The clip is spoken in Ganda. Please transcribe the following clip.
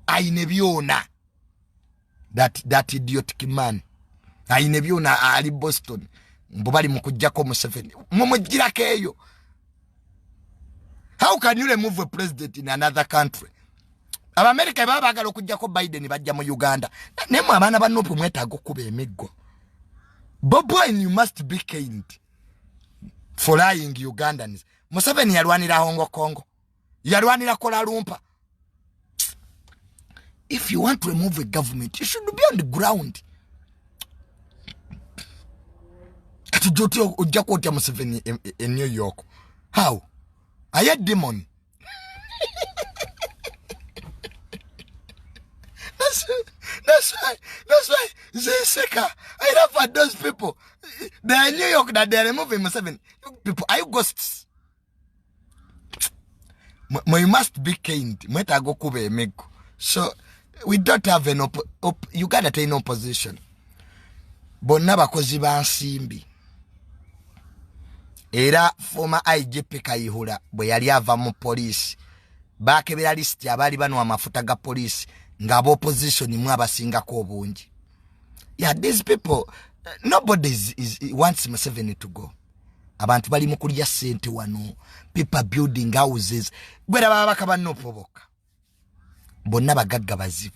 ayine byona that, that idiotic man ayine byona ali boston mbu bali mukujjako museveni mumujjirako eyo how can you remove a president in another country abamerica baba bagala okujjako biden bajja mu uganda nemwe abaana banupu mwetaaga okukuba emiggo bobwin you must be kind for lying ugandans museveni yalwanira hongo kongo yalwanira kola lumpa if you want to remove a government you should be on the ground kati joti ojja kwotya museveni e, e, e new york how aye demon that's, that's why that's why zeseka i love for those people they are new york that they are removing museveni people are you ghosts you must be kind mwetaaga okuba emiggo so we don't have an op op uganda terina opposition bonna bakozi ba nsimbi era former igp kayihura bwe yali ava mu poliisi bakebera lisiti abaali banwa amafuta ga poliisi nga abaopposition mu abasingako obungi yeah these people nobody is, is, wants museveni to go abantu bali mu kulya sente wano people building houses gwera baba bakaba nopo bokka bonna bagagga bazibu